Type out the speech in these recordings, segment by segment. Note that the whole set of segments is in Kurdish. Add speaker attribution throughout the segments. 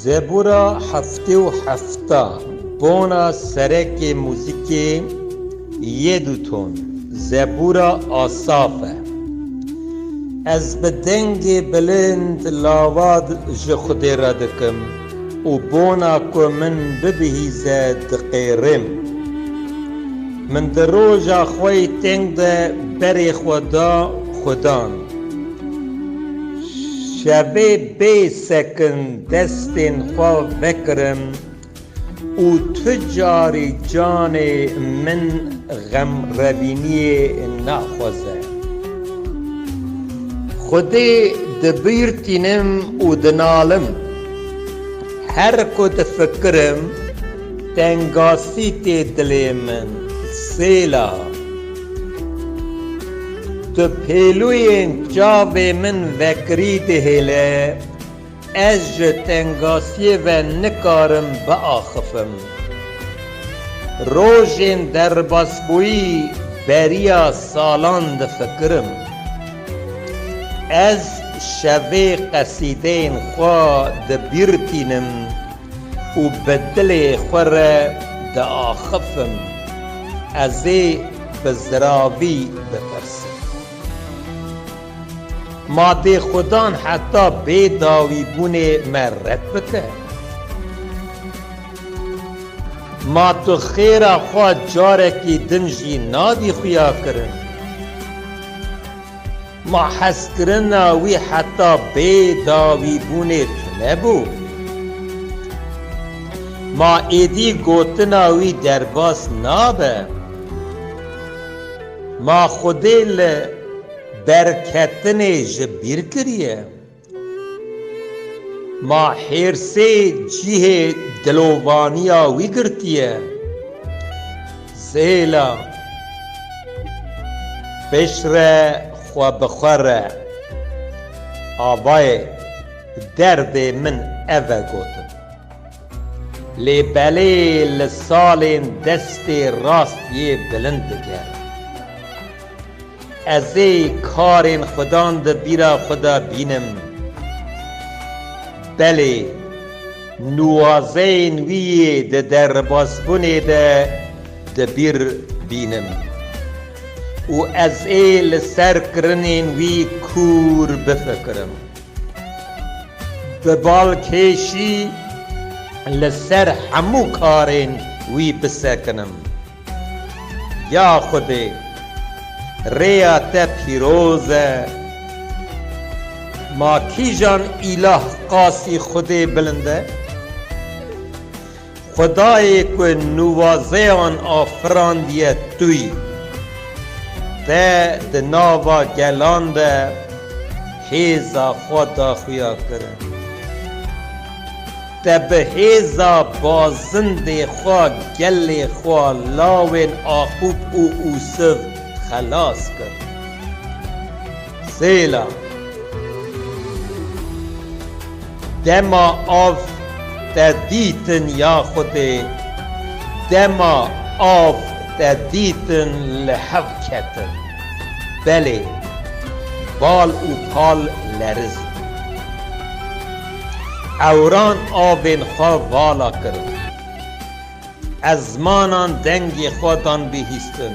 Speaker 1: Zebûra heftê û hefta Bona serekê muzîkê yê du ton Zebûra Asaf e. Ez bi dengê bilind lawad ji Xwedê re dikim. Û bona ku min bibihîze diqêrim. Min di roja xwe yê teng de berê xwe da Xudan. Şevê bê sekin destên xwe vekirim û tu carî canê min xemrevîniyê naxweze. Xwedê dibîrtînim û dinalim. Her ku difikirim tengasî tê dilê min sêla. Tu pêlûyên çavê min vekirî dihêle, ez ji tengasiyê ve nikarim biaxifim. Rojên derbasbûyî beriya salan difikirim. Ez şevê qesîdeyên xwe dibîr tînim û bi dilê xwe re diaxifim. Ez ê bi ziravî bipirsim. Madê xudan heta bê dawîbûnê me red bike? Ma tu xêra xwe carekî din jî nadî xuyakirin? Ma hezkirina wî heta bê dawîbûnê tune bû. Ma êdî gotina wî derbas nabe. Ma xwedê li berketinê ji bîr kiriye. Ma hêrsê cihê dilovaniya wî girtiye. Zêla, pişre xwe bi xwe re, Avayê derdê min ev e gotin. Lê belê li salên destê rast yê bilind dike. Ez ê karên Xudan di bîra xwe de bînim. Belê, nuwazeyên wî yê di derbasbûnê de di bîr bînim. Û ez ê li ser kirinên wî kûr bifikirim. Bi balkêşî li ser hemû karên wî bisekinim. Ya Xwedê, rêya te pîroz e. Ma kîjan îlah qasî Xwedê bilind e? Xwedayê ku nuwazeyan afirandiye tûy, te di nava gelan de hêza xwe daxuya kir. Te bi hêza bazindê xwe gelê xwe lawên Aqub û Usiv xelas kir. Sêla. Dema av te dîtin ya Xwedê, dema av te dîtin li hev ketin. Belê, bal û pal leriz bûn. Ewran avên xwe vala kirin. Ez zimanan dengê xwe dan bihîstin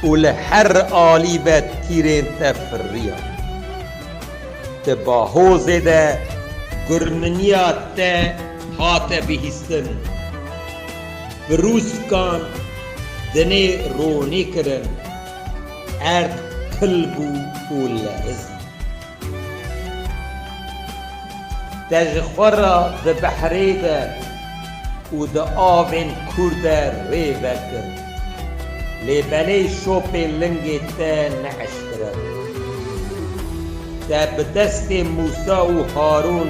Speaker 1: û li her alî ve tîrên te firiyan. Di bahozê de gurminiya te hate bihîstin, birûskan dinê ronî kirin, erd kil bû û lerizî. Te ji xwe re di behrê de û di avên kûr de rê vekir. Lê belê şopê lingê te neeşkere bû. Te bi destê Mûsa û Harûn